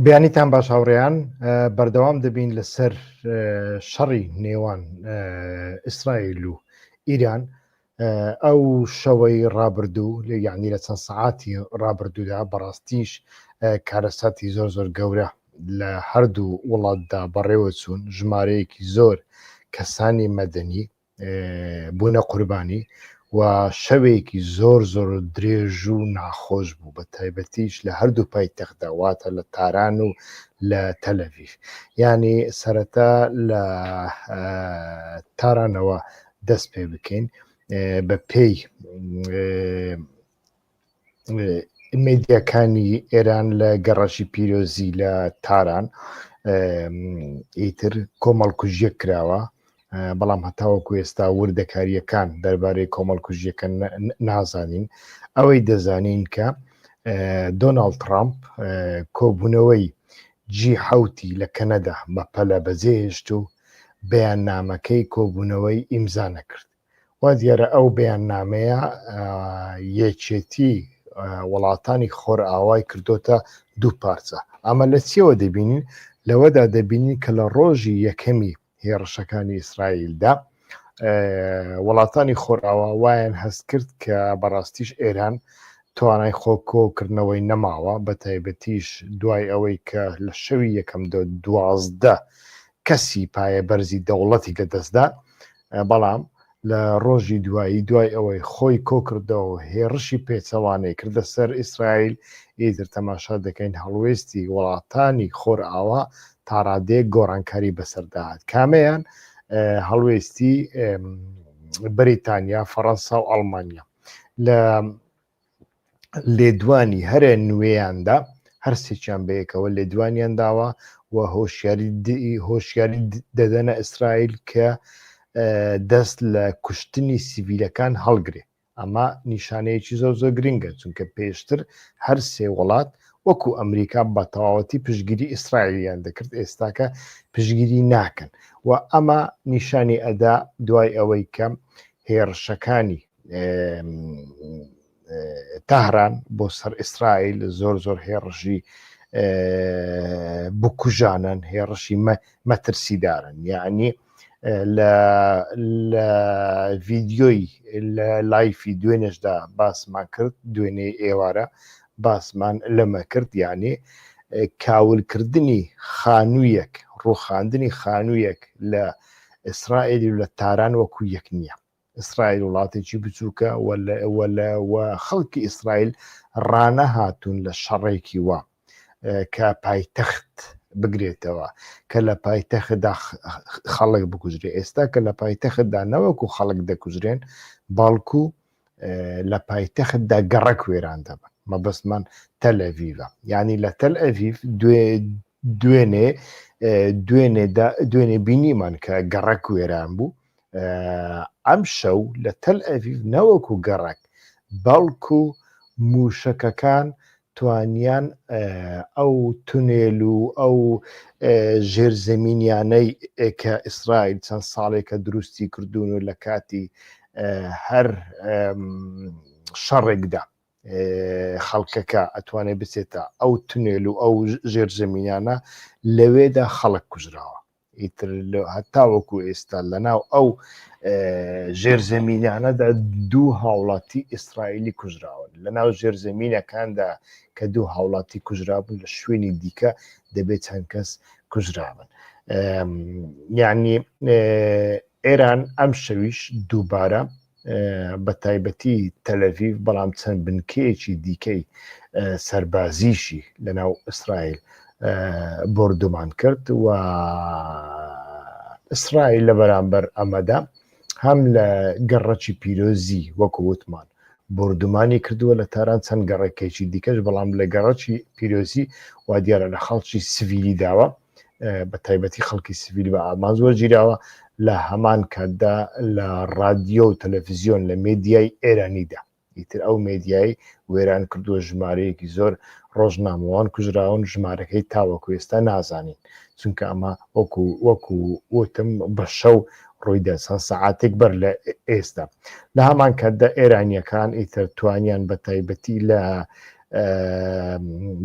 بیانیتان باش هاوڕێیان بەردەوام دەبین لەسەر شەڕی نێوان ئیسرائیل و ئیران ئەو شەوەی ڕابردوو لە یعنی لە چەند سعاتی ڕابردوودا بەڕاستیش کارەساتی زۆر زۆر گەورە لە هەردوو وڵاتدا بەڕێوە چوون ژمارەیەکی زۆر کەسانی مەدەنی بوونە قوربانی و شەوێکی زۆر زۆر درێژ و ناخۆش بوو بە تایبەتیش لە هەردوو پای تەخداواتە لە تاران و لە تەلەویف ینی سەرەتا لە تارانەوە دەست پێ بکەین بە پێی میدیاکانی ئێران لە گەڕەکی پیرۆزی لە تاران ئیتر کۆمەڵکوژیە کراوە بەڵام هەتاوەکو ئێستا وردەکاریەکان دەربارەی کۆمەڵکوژیەکە نازانین ئەوەی دەزانین کە دۆناالد ترامپ کۆبوونەوەی جی حوتی لە کەنەدا بە پەلە بەجێهێشت و بەیان نامەکەی کۆبوونەوەی ئیمزا نەکرد وا دیارە ئەو بەیاننامەیە یەکێتی وڵاتانی خۆرئاوای کردوتە دوو پارچە ئەمە لە چیەوە دەبینین لەوەدا دەبینین کە لە ڕۆژی یەکەمی هێڕشەکانی ئیسرائیلدا وڵاتانی خۆرئاوا وایەن هەست کرد کە بەڕاستیش ئێران توانای خۆکۆکردنەوەی نەماوە بە تایبەتیش دوای ئەوەی کە لە شەوی یەکەم دوازدە کەسی پایە بەرزی دەوڵەتی لەدەستدا بەڵام لە ڕۆژی دوایی دوای ئەوەی خۆی کۆکردەوە هێڕشی پێچەوانەی کردە سەر ئیسرائیل ئیتر تەماشا دەکەین هەڵوێستی وڵاتانی خۆرئاوا تاڕادەیەک گۆڕانکاری بەسەرداهات کامەیان هەڵوێستی بەریتانیا فەڕەنسا و ئەڵمانیا لە لێدوانی هەرە نوێیاندا هەرسێکیان بەیەکەوە لێدوانیان داوە و هۆشیاری هۆشیاری دەدەنە ئیسرائیل کە دەست لە کوشتنی سیڤیلەکان هەڵگرێ ئەمە نیشانەیەکی زۆر زۆر گرنگە چونکە پێشتر هەر سێ وڵات وەکو ئەمریکا بە تەواوەتی پشگیری ئیسرائیلیان دەکرد ئێستاکە پشگیری ناکەن و ئەمە نیشانی ئەدا دوای ئەوەی کەم هێرشەکانی تەهران بۆ سەر ئیسرائیل زۆر زۆر هێڕژی بکوژانن هێڕشی مەترسیدارن یعنی لە ڤیددیۆی لە لایفی دوێنێشدا باسمان کرد دوێنێ ئێوارە باسمان لەمە کرد یعنی کاولکردنی خانوویەک ڕوخاندنی خانوویەک لە ئیسرائیلی و لە تاران وەکو یەک نییە ئیسرائیل وڵاتێکی بچووکە و خەڵکی ئیسرائیل ڕانەهاتون لە شەڕێکی وا کە پایتەخت بگرێتەوە کە لە پایتەخدا خەڵک بکوژرێ ئێستا کە لە پایتەختدا نەوەکو خەڵک دەکوژرێن باڵکو لە پایتەختدا گەڕک وێران دەبن مەبەستمان تەلەڤیڤە ینی لە تەل ئەڤیف دوێنێ دوێنێ بینیمان کە گەڕک وێران بوو ئەم شەو لە تەل ئەڤیڤ نەوەک و گەڕک بەڵکو موشەکەکان توانیان ئەو تونێل و ئەو ژێرزەمینیانەی کە ئیسرائیل چەند ساڵێکە دروستی کردوون و لە کاتی هەر شەڕێکدا خەڵکەکە ئەتوانێ بچێتە ئەو تونێل و ئەو ژێرزەمینیانە لەوێدا خەڵک کوژراوە ئیتر لە هەتاوەکو ئێستا لەناو ئەو ژێرزەمینانەدا دوو هاوڵاتی ئیسرائیلی کوژراون لەناو ژێرزەمینەکاندا کە دوو هاوڵاتی کوژرابوون لە شوێنی دیکە دەبێت چەند کەس کوژرابن یعنی ئێران ئەم شەویش دووبارە بەتایبەتی تەلەڤیڤ بەڵام چەند بنکەیەکی دیکەی سەربازیشی لەناو ئیسرائیل بردومان کرد و ئیسرائیل لە بەرامبەر ئەمەدا هەم لە گەڕەکی پیرۆزی وەکو وتمان بردومانی کردووە لە تاران چەند گەڕێکێکی دیکەش بەڵام لە گەڕەکی پیرۆزی وا دیارە لە خەڵکی سڤیلی داوە بە تایبەتی خەڵکی سڤیل بە ئامان زۆر گیراوە لە هەمان کاتدا لە رادیۆ و تەلەفزیۆن لە مێدیای ئێرانیدا ئیتر ئەو مێدیایی وێران کردووە ژمارەیەکی زۆر ڕۆژنامەوان کوژراون ژمارەکەی تاوەکو ئێستا نازانین چونکە ئەمە وەکو وەکو وتم بە شەو ڕوویدا چەند سەعاتێک بەر لە ئێستا لە هەمان کاتدا ئێرانیەکان ئیتر توانیان بە تایبەتی لە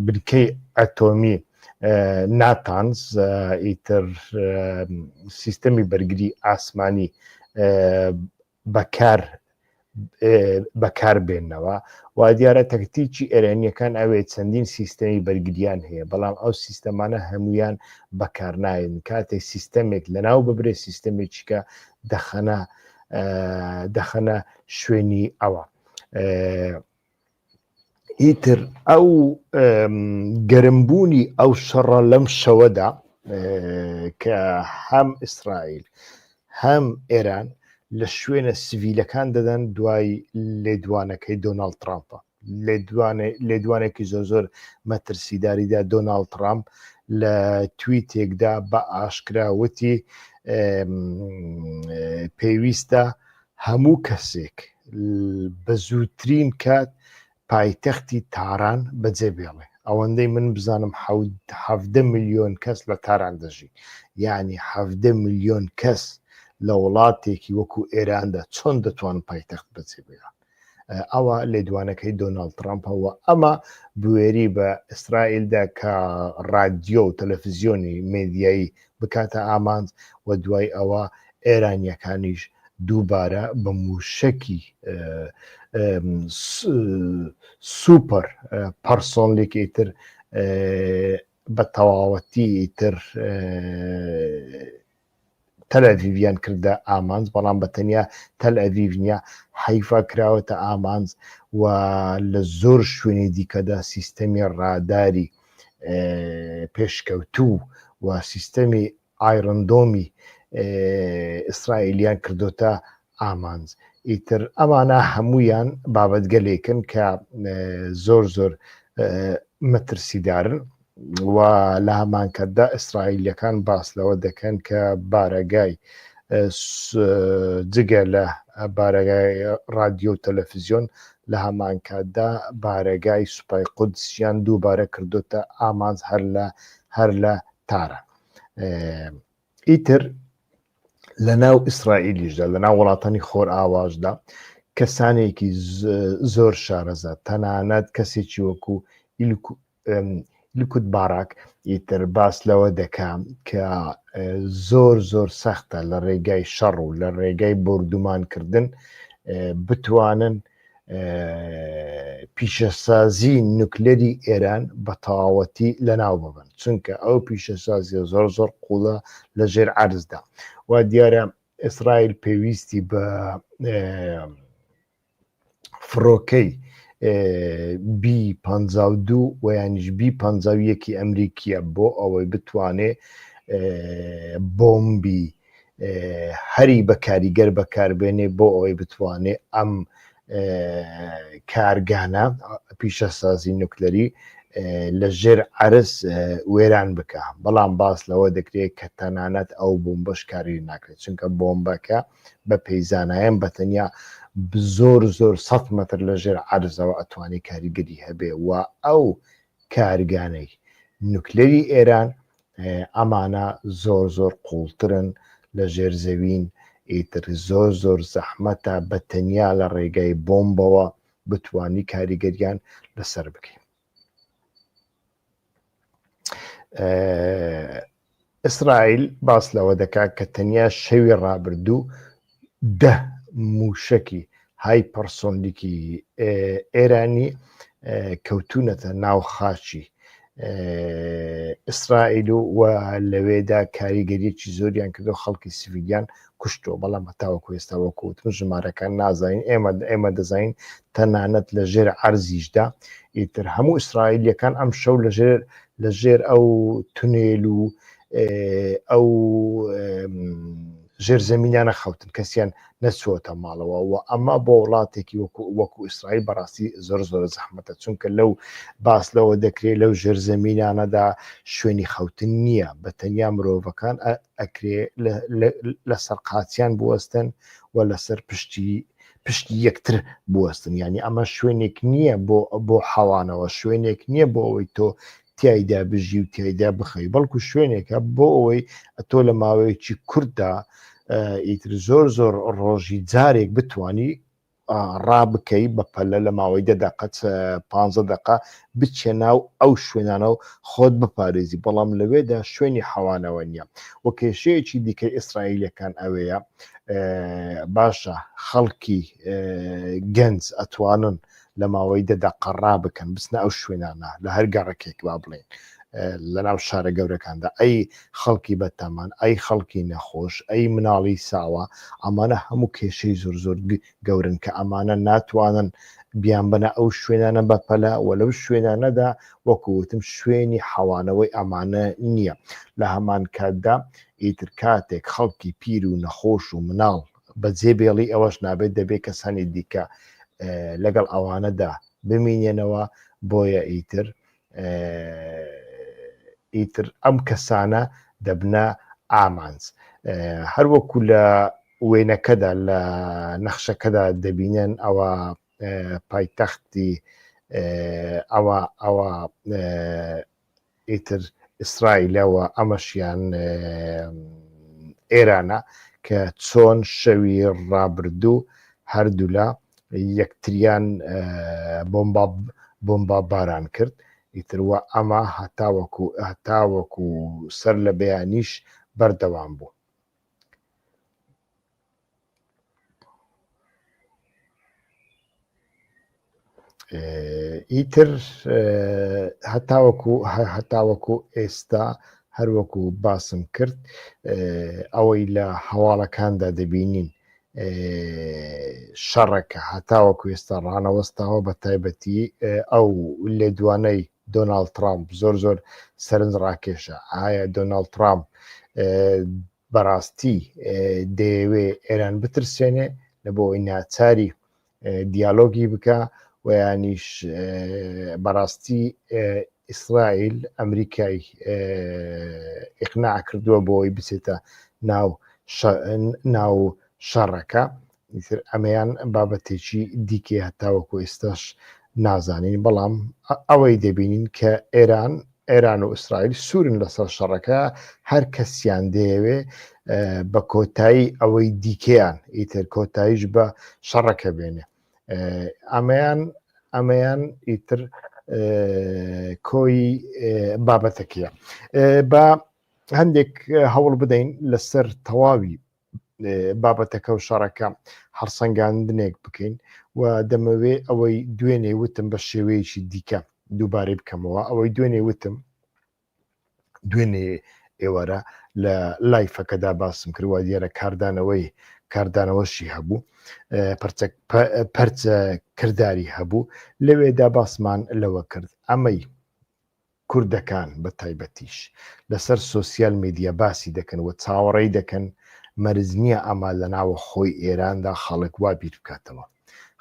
بنکەی ئەتۆمی ناتانز ئیتر سیستەمی بەرگری ئاسمانی بەکار بەکار بێنەوە و دیارە تەکتیکی ئێرانیەکان ئەوێ چەندین سیستەمی بەرگریان هەیە بەڵام ئەو سیستەمانە هەمویان بەکارناین کاتێک سیستەمێک لەناو ببرێت سیستەمێکیکە دەخەنە دەخەنە شوێنی ئەوە. ئیتر ئەو گەرمبوونی ئەو شەڕە لەم شەوەدا کە هەم ئیسرائیل هەم ئێران لە شوێنە سڤیلەکان دەدەن دوای لێدوانەکەی دۆناالد ترامپە لێدوانێکی زۆر زۆر مەترسیداریدا دۆناالد ترامپ لە توی تێکدا بە ئاشکراوتی پێویستە هەموو کەسێک بە زووترین کات پایتەختی تاران بەجێ بێڵێ ئەوەندەی من بزانم حەفدە میلیۆن کەس لە تاران دەژی یعنی حەفدە میلیۆن کەس لە وڵاتێکی وەکو ئێراندا چۆن دەتوان پایتەخت بەجێ بێڵن ئەوە لێدوانەکەی دۆناالد ترامپەوە ئەمە بوێری بە ئیسرائیلدا کە ڕادیۆ و تەلەفزیۆنی مێدیایی بکاتە ئامانج و دوای ئەوە ئێرانییەکانیش دووبارە بە مووشەکی سوپەر پەرسۆنلیک ئیتر بە تەواوەتی ئیتر تەلەڤیویان کردە ئامانج بەڵام بە تەنیا تەل ئەڤیڤ نیە حیفا کراوەتە ئامانج و لە زۆر شوێنی دیکەدا سیستەمی ڕاداری پێشکەوتوو و سیستەمی ئایرندۆمی ئیسرائیلیان کردوتە ئامانج ئیتر ئەمانە هەمویان بابەتگەلێکن کە زۆر زۆر مەترسیدارن و لە هەمانکەتدا ئیسرائیلەکان باس لەوە دەکەن کە بارەگای جگە لە بارەگای رادیۆ و تەلەفزیۆن لە هەمانکاتدا بارەگای سوپای قودسیان دووبارە کردۆتە ئامانج هەر لە هەر لە تارا ئیتر لە ناو ئیسرائیلیشدا لە ناو وڵاتانی خۆر ئاواشدا کەسانێکی زۆر شارەزە تەنانەت کەسێکی وەکو لوکوت باراک ئیتر باس لەوە دەکا کە زۆر زۆر سەختە لە ڕێگای شەڕ و لە ڕێگای بردومانکردن بتوانن پیشەسازی نوکلەری ئێران بە تەواوەتی لەناو ببن چونکە ئەو پیشەسازیە زۆر زۆر قوڵە لە ژێر عرزدا وا دیارە ئیسرائیل پێویستی بە فڕۆکەی بی پ دوو ویانش بی پ یەکی ئەمریکیە بۆ ئەوەی بتوانێ بۆمبی هەری بە کاریگەر بەکاربێنێ بۆ ئەوەی بتوانێ ئەم کارگانە پیشەسازی نوکلەری لە ژێر عرس وێران بکە بەڵام باس لەوە دەکرێت کە تەنانەت ئەو بۆمبەش کاری ناکرێت چونکە بۆمبەکە بە پێی زانایم بە تەنیا زۆر زۆر سەد مەتر لە ژێر عەرزەوە ئەتوانی کاریگەری هەبێ و ئەو کارگانەی نوکلەری ئێران ئەمانە زۆر زۆر قوڵترن لە ژێر زەوین ئیتر زۆر زۆر زەحمەتە بە تەنیا لە ڕێگای بۆمبەوە بتانی کاریگەریان لەسەر بکەین ئیسرائیل باس لەوە دەکات کە تەنیا شەوی ڕابردوو دە موشەکی های پەرسۆنلیکی ئێرانی کەوتونەتە ناو خاچی ئیسرائیل و لەوێدا کاریگەریەکی زۆریان کردو خەڵکی سیویلیان کوشتووە بەڵام هەتاوەکو ئێستا وەکوتم ژمارەکان نازانین ئێمە ئێمە دەزانین تەنانەت لە ژێر عەرزیشدا ئیتر هەموو ئیسرائیلەکان ئەم شەو لە ژێر لە ژێر ئەو تونێل و ئەو ژێر زمینانە خەوتن کەسیان نەچووەتە ماڵەوە و ئەمە بۆ وڵاتێکی وەکو وەکو ئیسرائیل بەڕاستی زۆر زۆر زەحمەتە چونکە لەو باس لەوە دەکرێت لەو ژێر زمینانەدا شوێنی خەوتن نییە بە تەنیا مرۆڤەکان ئەکرێ لەسەر قاچیان بوەستن و لەسەر پشتی پشتی یەکتر بوەستن ینی ئەمە شوێنێک نییە بۆ بۆ حەوانەوە شوێنێک نییە بۆ ئەوەی تۆ تایدا بژی و تایدا بخەی بەڵکو شوێنێکە بۆ ئەوەی ئەتۆ لە ماوەیەکی کورددا ئیتر زۆر زۆر ڕۆژی جارێک بتانی ڕابکەی بە پەلە لە ماوەی دە دەقە چ پانزە دەقە بچێ ناو ئەو شوێنانە و خۆت بپارێزی بەڵام لەوێدا شوێنی حەوانەوە نییە و کێشەیەکی دیکەی ئیسرائیلەکان ئەوەیە باشە خەڵکی گەنج ئەتوانن لە ماوەی دە دەقە ڕابکەن بچنە ئەو شوێنانە لە هەر گەڕەکێک با بڵێن لەناو شارە گەورەکاندا ئەی خەڵکی بەتامان ئەی خەڵکی نەخۆش ئەی مناڵی ساوا ئەمانە هەموو کێشەی زۆر زۆر گەورن کە ئەمانە ناتوانن بیان بەە ئەو شوێنانە بەپەلە و لەو شوێنانەدا وەکوتم شوێنی حەوانەوەی ئەمانە نییە لە هەمان کاتدا ئیتر کاتێک خەڵکی پیر و نەخۆش و مناڵ بە جێبێڵی ئەوەش نابێت دەبێت کەسانی دیکە لەگەڵ ئەوانەدا بمینێنەوە بۆیە ئیتر ئیتر ئەم کەسانە دەبنە ئامانج هەروەکو لە وێنەکەدا لە نەخشەکەدا دەبینن ئەوە پایتەختی ئەوە ئەوە ئیتر ئیسرائیلەوە ئەمەشیان ئێرانە کە چۆن شەوی ڕابردوو هەردوولا یەکتریان بۆمبا باران کرد ئیتر وە ئەمە هەتاوەکو هەتاوەکو سەر لە بەیانیش بەردەوام بوو. ئیتر هەتاوەکو هەتاوەکو ئێستا هەروەکو باسم کرد ئەوەی لە هەواڵەکاندا دەبینین شەڕەکە هەتاوەکو ئێستا ڕانەوەستاوە بە تایبەتی ئەو لێدوانەی دۆناالد ترامپ زۆر زۆر سەرنج ڕاکێشە ئایا دۆناالد ترامپ بەڕاستی دەیەوێ ئێران بترسێنێ لە بۆ ئەوی ناچاری دیالۆگی بکە و ینیش بەڕاستی ئیسرائیل ئەمریکای ئیقنا کردووە بۆی بچێتە ناو ناو شەڕەکە ئیتر ئەمەیان بابەتێکی دیکە هەتاوەکو ئێستاش نازانین بەڵام ئەوەی دەبینین کە ئێران ئێران و ئیسرائیل سوورن لەسەر شەڕەکە هەر کەسیان دەیەوێ بە کۆتایی ئەوەی دیکەیان ئیتر کۆتاییش بە شەڕەکە بێنێ ئەمەیان ئەمەیان ئیتر کۆی بابەتەکەیە بە هەندێک هەوڵ بدەین لەسەر تەواوی بابەتەکە و شەڕەکە هەڵسەنگاندنێک بکەین و دەمەوێ ئەوەی دوێنێ وتم بە شێوەیەکی دیکە دووبارەی بکەمەوە ئەوەی دوێنێ وتم دوێنێ ئێوارە لە لایفەکەدا باسم کردوە دیارە کاردانەوەی کاردانەوەشی هەبوو پەرچە کردداری هەبوو لەوێدا باسمان لەوە کرد ئەمەی کوردەکان بە تایبەتیش لەسەر سۆسیال میدیا باسی دەکەن و چاوەڕێی دەکەن، مەرج نییە ئەمە لە ناوەخۆی ئێراندا خەڵک وا بیر بکاتەوە.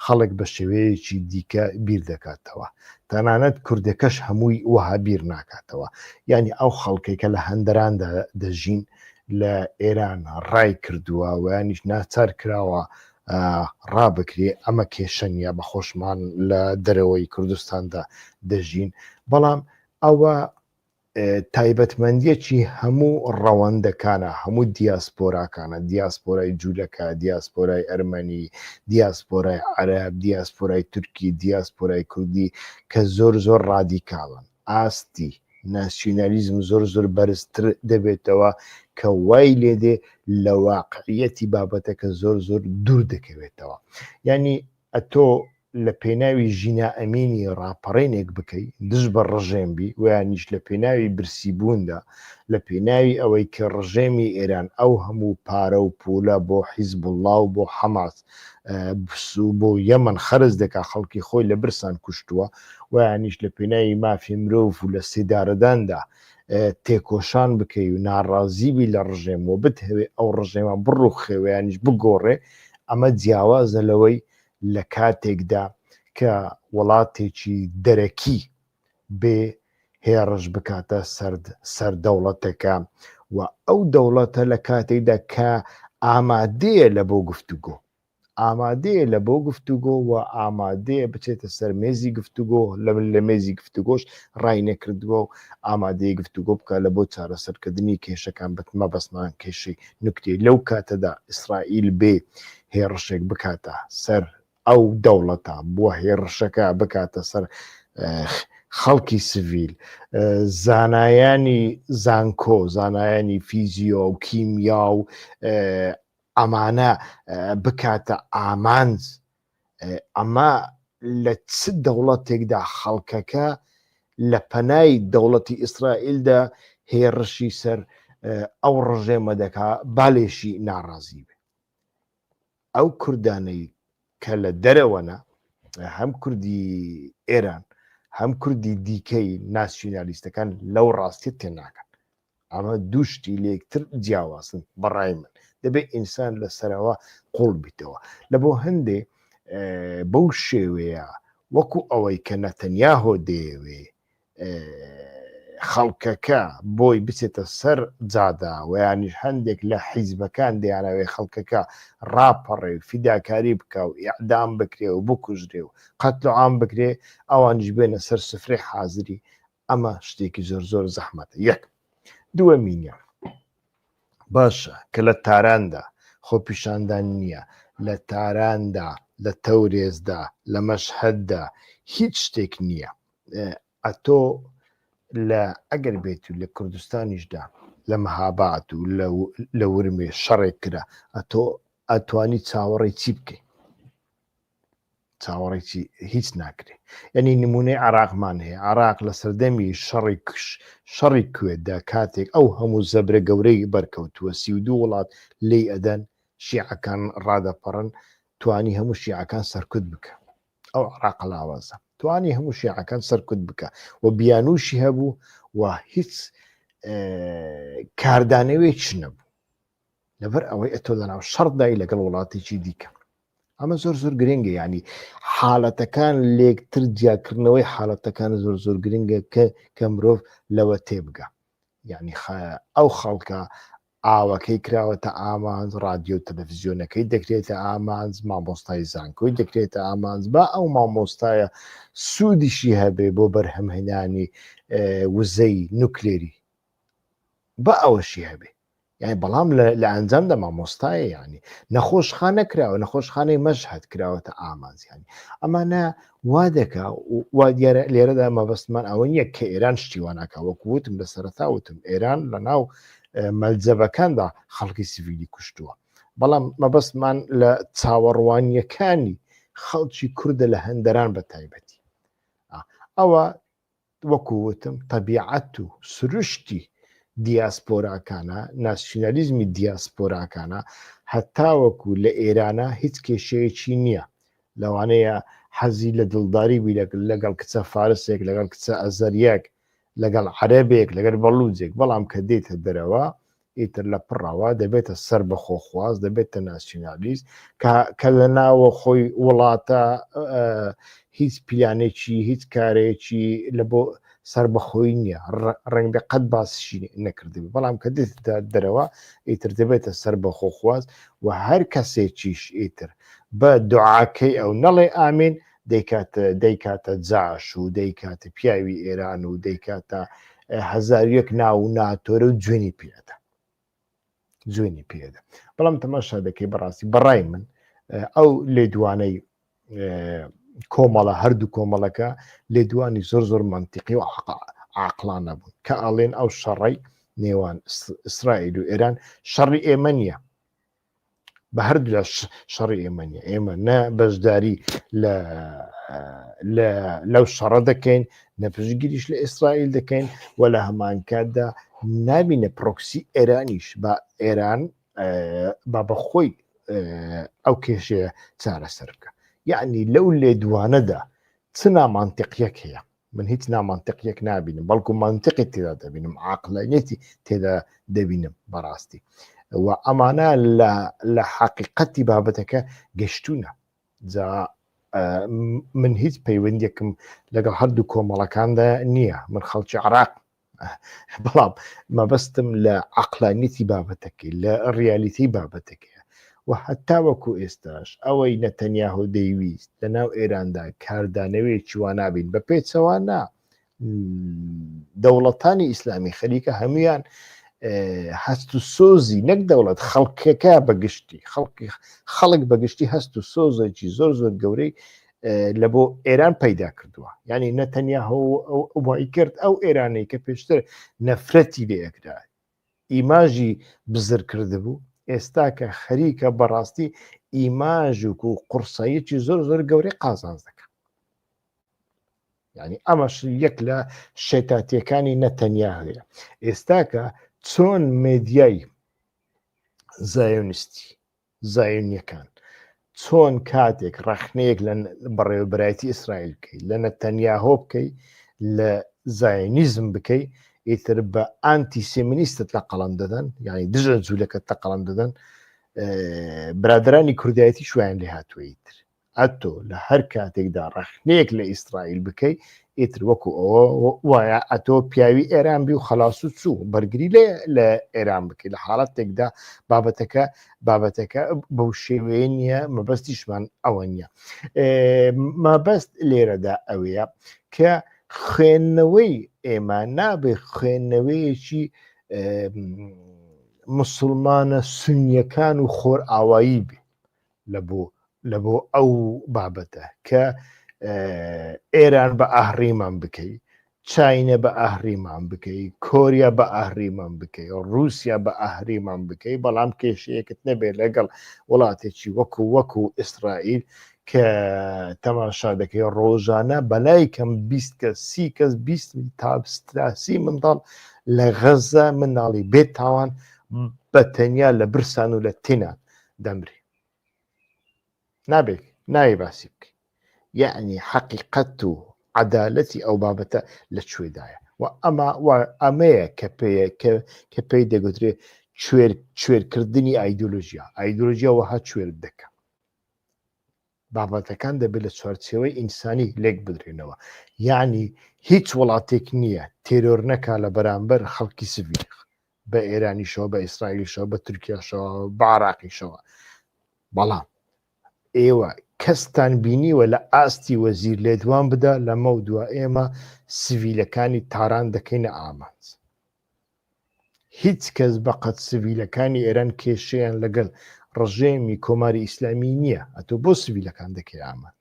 خەڵک بە شێوەیەکی دیکە بیر دەکاتەوە. تەنانەت کوردەکەش هەمووی وەها بیر ناکاتەوە. یانی ئەو خەڵکەی کە لە هەندەراندا دەژین لە ئێران ڕای کردووە و یانیش ناچار کراوە ڕابکرێ ئەمە کێشە نیە بە خۆشمان لە دەرەوەی کوردستاندا دەژین بەڵام ئەوە تایبەتمەندیەکی هەموو ڕەوەندەکانە هەموو دیاسپۆراکانە دیاسپۆرای جوولەکە دیاسپۆرای ئەرمەنی دیاسپۆرای عەرب دیاسپۆرای تورکی دیاسپۆرای کوردی کە زۆر زۆر ڕادیکاڵن ئاستی ناسیونالیزم زۆر زۆر بەرزتر دەبێتەوە کە وای لێدێ لە واقعیەتی بابەتەکە زۆر زۆر دوور دەکەوێتەوە ینی ئەتۆ لە پێناوی ژینا ئەمینی ڕاپەڕێنێک بکەیت دژ بە ڕژێم بی ویانیش لە پێناوی برسی بووندا لە پێناوی ئەوەی کە ڕژێمی ئێران ئەو هەموو پارە و پولە بۆ حیزب الله و بۆ حەماس سوو بۆ یەمەن خەرج دەکا خەڵکی خۆی لە برسان کوشتووە ویانیش لە پێناوی مافی مرۆڤ و لە سیدارەداندا تێکۆشان بکەی و ناڕازیبی لە ڕژێم و بتهەوێ ئەو ڕژێمە بڕوخێوەیانیش بگۆڕێ ئەمە جیاوازە لەوەی لە کاتێکدا کە وڵاتێکی دەرەکی بێ هێڕش بکاتە سەر دەوڵەتەکە و ئەو دەوڵەتە لە کاتێکدا کە ئامادەیە لە بۆ گفتوگۆ ئامادەیە لە بۆ گفتوگۆ و ئامادەیە بچێتە سەر مێزی گفتوگۆ لە لە مێزی گفتوگۆش ڕای نەکردووە و ئامادەیە گفتوگۆ بکە لە بۆ چارەسەرکردنی کێشەکان بتمە بەسمان کێشەی نکتی لەو کاتەدا ئیسرائیل بێ هێڕشێک بکاتە سەر ئەو دەوڵەتە بووە هێڕشەکە بکاتە سەر خەڵکی سڤیل زانایانی زانکۆ زانایانی فیزیۆ و کیمیا و ئەمانە بکاتە ئامانج ئەمە لە چ دەوڵەتێکدا خەڵکەکە لە پەنای دەوڵەتی ئیسرائیلدا هێڕشی سەر ئەو ڕژێمە دەکا بالێشی ناڕازی بێ ئەو کوردانەی کە لە دەرەوەنە هەم کوردی ئێران هەم کوردی دیکەی ناسیونالیستەکان لەو ڕاستی تێناکەن ئەمە دووشتی لەکتر جیاوازن بەڕای من دەبێت ئینسان لە سەرەوە قوڵ بیتەوە لە بۆ هەندێ بەو شێوەیە وەکو ئەوەی کە نەتەنیا هۆ دەیەوێ خەڵکەکە بۆی بچێتە سەر جادا ویانیش هەندێک لە حیزبەکان دیانەوەی خەڵکەکە ڕاپەڕێ و فیداکاری بکە و ئیعدام بکرێ و بکوژرێ و قەتل و عام بکرێ ئەوانیش بێنە سەر سفرێ حازری ئەمە شتێکی زۆر زۆر زەحمەتە یەک دووە مینە باشە کە لە تاراندا خۆ پیشاندان نییە لە تاراندا لە تەورێزدا لە مەشهددا هیچ شتێک نییە ئەتۆ لە ئەگەر بێت و لە کوردستانیشدا لە مەهابات و لە ورمێ شەڕێک کرا ئەتۆ ئەتوانی چاوەڕێی چی بکەیت چاوەڕێکی هیچ ناکرێ یعنی نمونەی عراقمان هەیە عراق لە سەردەمی شەڕی کش شەڕی کوێدا کاتێک ئەو هەموو زەبرە گەورەی بەرکەوتووە سی و دوو وڵات لی ئەدەن شیعەکان ڕادەپەڕن توانی هەموو شیعەکان سەرکوت بکە ئەو عراق لاوازە توانی هەموو شیعەکان سەرکوت بکە و بیانوشی هەبوو و هیچ کاردانەوەی چ نەبوو لەبەر ئەوەی ئەتۆ لەناو شەڕدای لەگەڵ وڵاتێکی دیکە ئەمە زۆر زۆر گرنگە ینی حالەتەکان لێکتر جیاکردنەوەی حالەتەکان زۆر زۆر گرنگە کە کە مرۆڤ لەوە تێبگە یعنی ئەو خەڵکە ئاوەکەی کراوەتە ئامانج، ڕادیۆ و تەلەفزیۆنەکەی دەکرێتە ئامانج، مامۆستای زانکۆی دەکرێتە ئامانج، با ئەو مامۆستایە سوودیشی هەبێ بۆ بەرهەمهێنانی وزەی نوکلێری با ئەوەشی هەبێ یعنی بەڵام لە ئەنجام دە مامۆستایە ینی نەخۆشخانە کراوە نەخۆشخانەی مەشهد کراوەتە ئامانزیانی ئەمانە وا دەکا وا دیارە لێرەدا مەبەستمان ئەوە نییە کە ئێران شتیوانەکە وەکووتم لە سەرتا وتم ئێران لە ناو مەلجەبەکاندا خەڵکی سڤیلی کوشتووە بەڵام مەبەستمان لە چاوەڕوانیەکانی خەڵکی کووردە لە هەندەران بە تایبەتی ئەوە وەکووتم تەبیعەت و سروشتی دیاسپۆراکانە ناسیۆنالیزمی دیاسپۆراکانە هەتاوەکو لە ئێرانە هیچ کێشەیەکی نییە لەوانەیە حەزی لە دڵداری بی لەگەڵ کچە فارسێک لەگەڵ کچە ئەزەریەک لەگەڵ عەرەبێک لەگەر بەڵوجێک بەڵام کە دێتە دەرەوە ئیتر لە پڕەوە دەبێتە سەر بە خۆخواز دەبێتە ناسیۆنالیست کە لە ناوە خۆی وڵاتە هیچ پیلانێکی هیچ کارێکی لە بۆ سەر بەخۆی نییە ڕەنگە قەت باسشی نەکردبی بەڵام کە دێتە دەرەوە ئیتر دەبێتە سەر بە خۆخواز و هەر کەسێکیش ئیتر بە دوعاکەی ئەو نەڵێ ئامین دەیکاتە دەیکاتە جاش و دەیکاتە پیاوی ئێران و دەیکاتە هزار یەک ناو و ناتۆرە و جوێنی پێدا جوێنی پێدا بەڵام تەماشا دەکەی بەڕاستی بەڕای من ئەو لێدوانەی کۆمەڵە هەردوو کۆمەڵەکە لێدوانی زۆر زۆر منتیقی و عقلانە بوون کە ئەڵێن ئەو شەڕی نێوان ئیسرائیل و ئێران شەڕی ئێمە نیە بە هەردوو لە شەڕی ئێمە نیە ئێمە نە بەشداری لەو شەڕە دەکەین نە پشگیریش لە ئیسرائیل دەکەین و لە هەمانکاتدا نابینە پرۆکسی ئێرانیش بە ئێران با بەخۆی ئەو کێشەیە چارەسەر بکە یعنی لەو لێدوانەدا چ نامانتەقیەک هەیە من هیچ نامانتەقیەک نابینم بەڵکو منتقی تێدا دەبینم عقلانیەتی تێدا دەبینم بەڕاستی و ئەمانە لە حقیقەتی بابەتەکە گەشتونە جا من هیچ پەیوەندێکم لەگەڵ هەردوو کۆمەڵەکاندا نییە من خەڵکی عراق بەڵام مەبەستم لە عقلانیتی بابەتەکەی لە ڕیالیتی بابەتەکەی و هەتا وەکو ئێستاش ئەوەی نەتەنیاهۆ دەیویست لە ناو ئێراندا کاردانەوەی چوانابین بە پێچەوانە دەوڵەتانی ئیسلامی خەریکە هەمویان هەست و سۆزی نەک دەوڵەت خەڵکەکە بەگشتی خەڵکی خەڵک بەگشتی هەست و سۆزێکی زۆر زۆر گەورەی لە بۆ ئێران پەیدا کردووە ینی نەتەنیا ئەومای کرد ئەو ئێرانەی کە پێشتر نەفرەتی لەیەکدا ئیماژی بزر کرد بوو ئێستا کە خەریکە بەڕاستی ئیماژوک و قورساییەکی زۆر زۆر گەورەی قازانز دەکەن ینی ئەمەش یەک لە شێتاتیەکانی نەتەنیا هەیە ئێستاکە چۆن مێدیای زایۆنیستی زایونیەکان چۆن کاتێک ڕەخنەیەک لە بەڕێوەبرایەتی ئیسرائیل بکەیت لە نەتەنیاهۆ بکەی لە زایونیزم بکەی ئیتر بە ئانتی سێمنیستت لە قەڵم دەدەن یعنی دژە جوولەکەت تە قەڵم دەدەن برادرانی کوردایەتی شویان لێ هاتووە ئیتر ئەتۆ لە هەر کاتێکدا ڕەخنەیەک لە ئیسرائیل بکەی ئیتر وەکو ئەوە وایە ئەتۆ پیاوی ئێران بی و خلاص و چوو بەرگری لێ لە ئێران بکەی لە حاڵەتێکدا بابەتەکە بابەتەکە بەو شێوەیە نییە مەبەستیشمان ئەوە نییە مەبەست لێرەدا ئەوەیە کە خوێندنەوەی ئێمە نابێ خوێندنەوەیەکی مسلمانە سنیەکان و خۆر ئاوایی بێ لە بۆ ئەو بابەتە کە ئێران بە ئاهڕیمان بکەی چینە بە ئاهریمان بکەی کۆریا بە ئاهریمان بکەی رووسیا بە ئاهریمان بکەی بەڵام کێشەیەکت نەبێت لەگەڵ وڵاتێکی وەکو وەکو ئیسرائیل کە تەماشا دەکەی ڕۆژانە بەلای کەم بیست کە سی کەس بیست تاستراسی منداڵ لە غەزە مناڵی بێت تاوان بە تەنیا لە برسان و لە تینان دەمرێ نابێت ناوی باسی بکەین یعنی حەقیقەت و عدالەتی ئەو بابەتە لە کوێدایە و ئەمە ئەمەیە کە پێەیە کە پێی دەگوترێ کوێرکردنی ئایدۆلۆژیا ئایدۆلۆژیا وەها کوێر دەکە بابەتەکان دەبێت لە چوارچێوەی ئینسانی لێک بدرێنەوە یعنی هیچ وڵاتێک نییە تێرۆر نەکا لە بەرامبەر خەڵکی سڤیل بە ئێرانیشەوە بە ئیسرائیلیشەوە بە تورکیاشەوە بە عراقیشەوە بەڵام ئێوە کەستان بینیوە لە ئاستی وەزیر لێدوان بدا لەمە و دوا ئێمە سڤیلەکانی تاران دەکەینە ئامانج هیچ کەس بە قەد سڤیلەکانی ئێران کێشەیان لەگەل ڕژێمی کۆماری ئیسلامی نییە ئەتۆ بۆ سڤیلەکان دەکەی ئاماد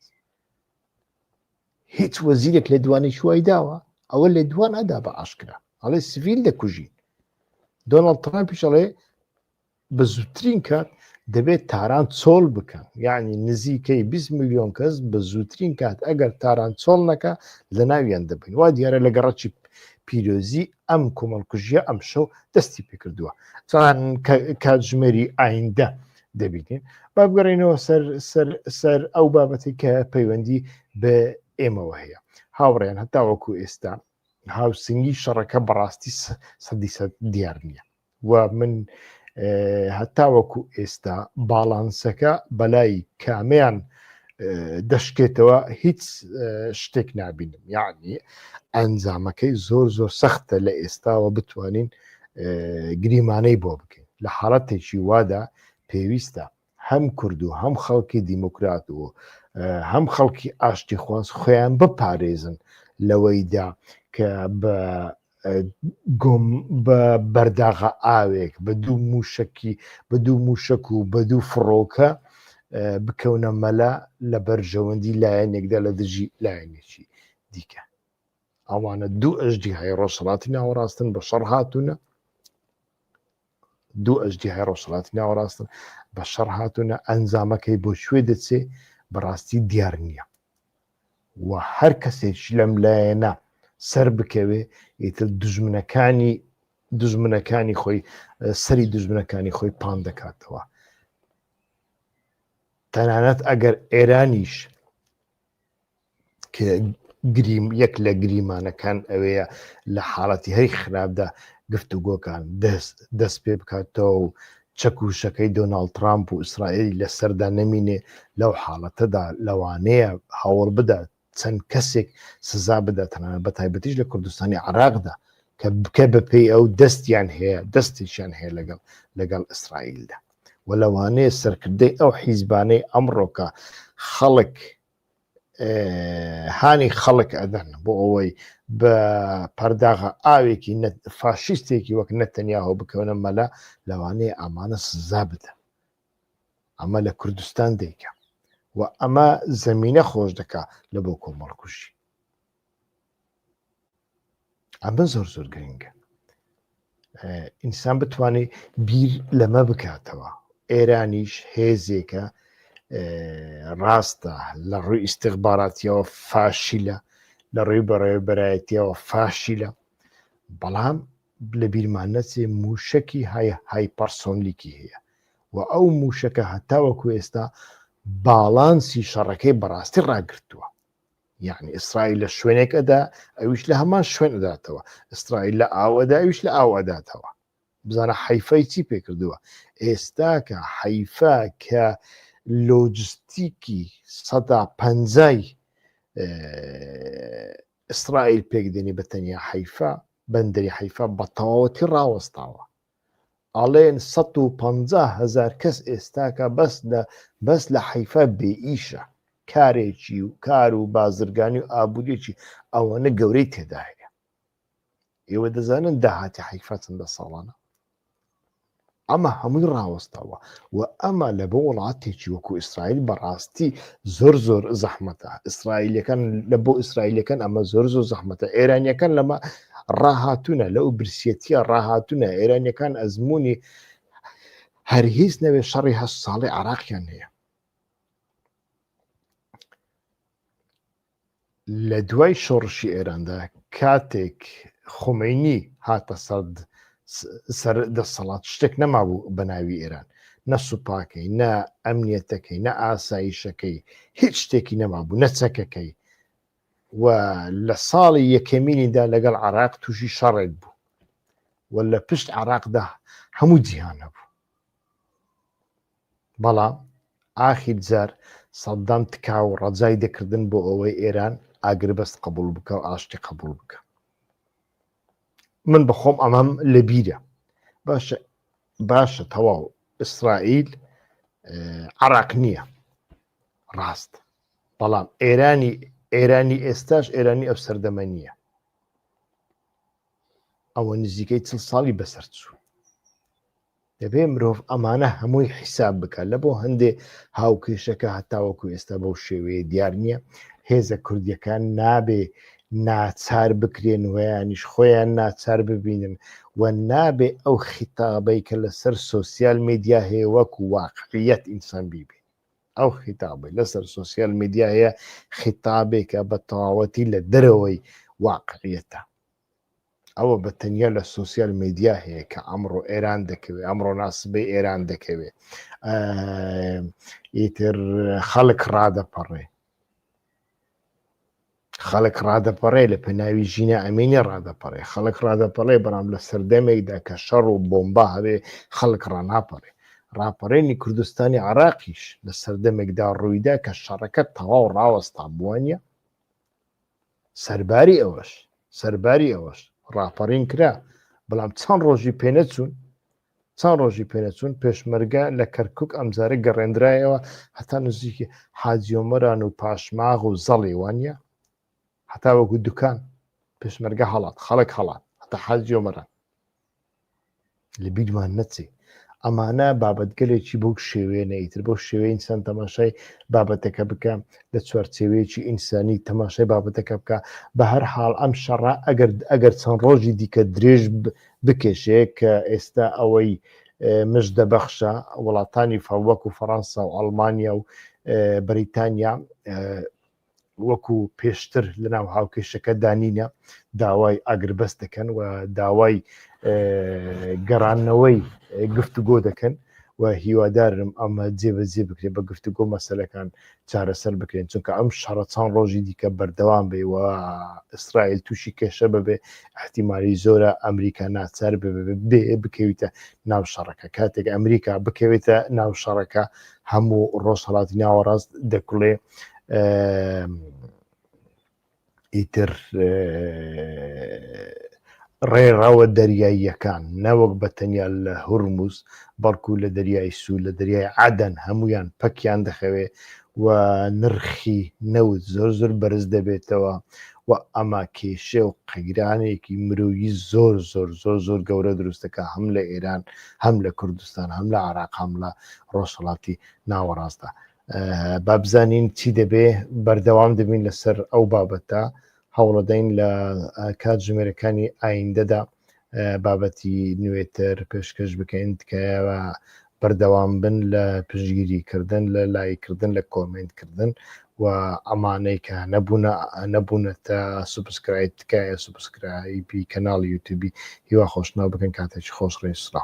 هیچ وەزیرێک لە دوانێک وای داوە ئەوە لە دوان ئەدا بە ئاشکرا ئەڵێ سڤیل دەکوژین دۆناڵد ترامپیش ئەڵێ بە زووترین کات دەبێت تاران چۆڵ بکەن یعنی نزیکەی 20 میلیۆن کەس بە زووترین کات ئەگەر تاران چۆڵ نەکە لە ناویان دەبین وا دیارە لە گەڕەکی پیرۆزی ئەم کۆمەڵکوژیە ئەم شەو دەستی پێکردووە چۆن کاتژمێری ئایندە دەبینین با بگەڕێنەوە سەر سەر سەر ئەو بابەتی کە پەیوەندی بە ئێمەوە هەیە هاوڕێن هەتاوەکو ئێستا هاوسنگی شەڕەکە بەڕاستی سەدی سە دیار نییە و من هەتاوەکو ئێستا باڵانسەکە بەلای کامیان دەشکێتەوە هیچ شتێک نبینم یعنی ئەنجامەکەی زۆر زۆر سەختە لە ئێستاوە بتوانین گریمانەی بۆ بکەین لە حاڵەتێکی وادا پێویستە هەم کورد و هەم خەڵکی دیموکرات و هەم خەڵکی ئاشتی خواز خۆیان بپارێزن لەوەیدا کە بە گۆم بە بەرداغە ئاوێک بە دوو موشکی بە دوو موشک و بە دوو فڕۆکە بکەونە مەلا لە بەرژەوەندی لایەنێکدا لە دژی لایەنێکی دیکە ئەوانە دوو ئەژدی های ڕۆژهڵاتی ناوەڕاستن بە شەڕ هاتوونە دوو ئەژدیهای ڕۆژهەڵاتی ناوەڕاستن بە شەڕ هاتوونە ئەنجامەکەی بۆ شوێ دەچێ بەڕاستی دیار نییە و هەر کەسێک لەم لایەنە سەر بکەوێ ئیتر دژمنەکانی دژمنەکانی خۆی سەری دژمنەکانی خۆی پان دەکاتەوە تەنانەت ئەگەر ئێرانیش گریم یەک لە گریمانەکان ئەوەیە لە حاڵەتی هەی خراپدا گفتوگۆکان دەست دەست پێ بکاتەوە و چەکوشەکەی دۆناڵد ترامپ و ئیسرائیل لەسەردا نەمینێ لەو حاڵەتەدا لەوانەیە هەوڵ بدات چەند کەسێک سزا بداتەنە بە تایبەتیش لە کوردستانی عراقدا کە بکە بەپێی ئەو دەستیان هەیە دەستێکیان هەیە لەگەڵ لەگەڵ ئیسرائیلدا و لەوانەیە سەرکردەی ئەو حیزبانەی ئەمڕۆکە خەڵک هانی خەڵک ئەدەن بۆ ئەوەی بە پەرداغە ئاوێکی فاشیستێکی وەک نەتەنیاهۆ بکەونە مەلا لەوانەیە ئامانە سزا بدەن ئەمە لە کوردستان دەیکە و ئەمە زمینە خۆش دەکا لە بۆ کۆمەڵکوژی ئەمە زۆر زۆر گرنگە ئینسان بتوانێت بیر لەمە بکاتەوە ئێرانیش هێزێکە ڕاستە لە ڕووی ئیسیغباراتیەوە فاشیلە لە ڕووی بەڕێبەرایەتیەوە فاشیلە بەڵام لە بیرمان نەچێ موشکی های های پەرسۆنلیکی هەیە و ئەو موشەکە هەتاوەکو ئێستا باڵانسی شەڕەکەی بەڕاستی ڕاگرتووە یعنی ئیسرائیل لە شوێنێک ئەدا ئەویش لە هەمان شوێن ئەداتەوە ئیسرائیل لە ئاوەدا ئەویش لە ئاو ئەداتەوە بزانە حیفای چی پێکردووە ئێستاکە حیفا کە لۆجستیکی سەدا پەنجای ئیسرائیل پێکدێنی بە تەنیا حیفا بەندری حیفا بە تەواوەتی ڕاوەستاوە ئەڵێن سەد و پەنجا هەزار کەس ئێستاکە بەس لە بەس لە حەیفا بێ ئیشە کارێکی و کار و بازرگانی و ئابووریی ئەوەنە گەورەی تێدا هەیە ئێوە دەزانن داهاتی حیفا چەندە ساڵانە ئەمە هەمووی ڕاوەستەوە و ئەمە لە بۆ وڵاتێکی وەکو ئیسرائیل بەڕاستی زۆر زۆر زەحمەتە ئیسرائیلەکان لە بۆ ئیسرائیلەکان ئەمە زۆر زۆر زەحمەتە ئێرانیەکان لەمە ڕاهاتونە لەو برسیەتە ڕاهاتونە ئێرانیەکان ئەزمموی هەر هیچ نەوێ شەڕی هە ساڵی عراقیان هەیە لە دوای شۆڕشی ئێراندا کاتێک خمینی هاتە سەد سەر دەسەڵات شتێک نەمابوو بە ناوی ئێران نە سوپاکەی نە ئەمنیەتەکەی نە ئاساییشەکەی هیچ شتێکی نەمابوو نەچەکەکەی و لە ساڵی یەکەمینیدا لەگەڵ عراق تووشی شەڕێک بوو و لە پشت عراقدا هەموو جیهان هەبوو بەڵام ئاخیر جار سەددام تکا و ڕەجای دەکردن بۆ ئەوەی ئێران ئاگربەست قبول بکە و ئاشتی قبول بکە من بەخۆم ئەمەم لە بیرە باشە باشە تەواو ئیسرائیل عراق نییە ڕاست بەڵام ئێرانی ئێرانی ئێستاش ئێرانی ئەو سەردەمە نییە ئەوە نزیکەی چل ساڵی بەسەر چوو دەبێ مرۆڤ ئەمانە هەمووی حیساب بکات لە بۆ هەندێ هاوکێشەکە هەتاوەکو ئێستا بەو شێوەیە دیار نییە هێزە کوردیەکان نابێ ناچار بکرێن ویانیش خۆیان ناچار ببینن و نابێ ئەو خیتابەی کە لەسەر سوسیال میدیا هەیە وەکو واقعیت ئینسان بیبێت ئەو خیتابەی لەسەر سوسیال میدیایە خیتابێکە بە تەواوەتی لە دەرەوەی واقعیەتە ئەوە بە تەنیا لە سوسیال میدیا هەیە کە ئەمڕۆ ئێران دەکەوێت ئەمڕۆ ناسبەی ئێران دەکەوێت ئیتر خەڵک ڕادەپەڕێ خەڵک ڕادەپەڕێ لە پێناوی ژینا ئەمینی ڕادەپەڕێ خەڵک ڕادەپەڕێ بەڵام لە سەردەمێکدا کە شەڕ و بۆمبا هەبێ خەڵک ڕناپەڕێ ڕاپەڕێنی کوردستانی عراقیش لە سەردەمێکدا ڕوویدا کە شەڕەکە تەواو ڕاوەستا بووانە سەرباری ئەوەش سەرباری ئەوەش ڕاپەڕین کرا بەڵام چەند ڕۆژی پێنەچوون چەند ڕۆژی پێنەچوون پێشمەرگە لە کەرکک ئەمجارە گەڕێنرایەوە هەتا نزیکی حاجیۆمەران و پاشماغ و زەڵی وانە هەتا وەکو دوکان پێشمەرگە هەڵات خەڵک هەڵات هەتا حاجیۆمەران لە بیدمان نەچی ئەمانە بابەتگەلێکی بەو شێوێ نەیتر بۆ شێوەی ئینسان تەماشای بابەتەکە بکە لە چوارچێوەیەکی ئینسانی تەماشای بابەتەکە بکە بە هەر حاڵ ئەم شەڕە ئەگەر ئەگەر چەند ڕۆژی دیکە درێژ بکێشێ کە ئێستا ئەوەی مژ دەبەخشە وڵاتانی فەوەک و فەڕەنسا و ئەڵمانیا و بریتانیا وەکو پێشتر لە ناو هاوکێشەکە دانینە داوای ئاگربەست دەکەن و داوای گەڕانەوەی گفتوگۆ دەکەن و هیوادارم ئەمە جێبەجێ بکرێت بە گفتوگۆ مەسلەکان چارەسەر بکرێن چونکە ئەم شەڕە چەند ڕۆژی دیکە بەردەوام بێ و ئیسرائیل تووشی کێشە ببێ احتیممالی زۆرە ئەمریکا ناچار بێ بکەویتە ناو شەڕەکە کاتێک ئەمریکا بکەوێتە ناو شەڕەکە هەموو ڕۆژهڵاتی ناوەڕاست دەکڵێ ئیتر ڕێڕەوە دەریاییەکان نەوەک بە تەنیا لە هورمز بەڵکو لە دەریای سوور لە دەریای عادەن هەمویان پەکیان دەخەوێ و نرخی نەوت زۆر زۆر بەرز دەبێتەوە و ئەما کێشێ و قەیرانێکی مرۆیی زۆر زۆر زۆر زۆر گەورە دروستەکە هەم لە ئێران هەم لە کوردستان هەم لە عراق هەم لە ڕۆژهڵاتی ناوەڕاستدا بابزانین چی دەبێ بەردەوام دەبین لەسەر ئەو بابەتە هەوڵەدەین لە کات ژمێرەکانی ئایندەدا بابەتی نوێتر پێشکەش بکەین تکایەوە بەردەوام بن لە پشگیری کردن لە لایکردن لە کۆمنتکردن و ئەمانەی کە نەبوونە نەبوونەتە سوبسکرایب تکایە سوبسکرایبی کەناڵی یوتوبی هیوا خۆشناو بکەن کاتێکی خۆش ڕێسرا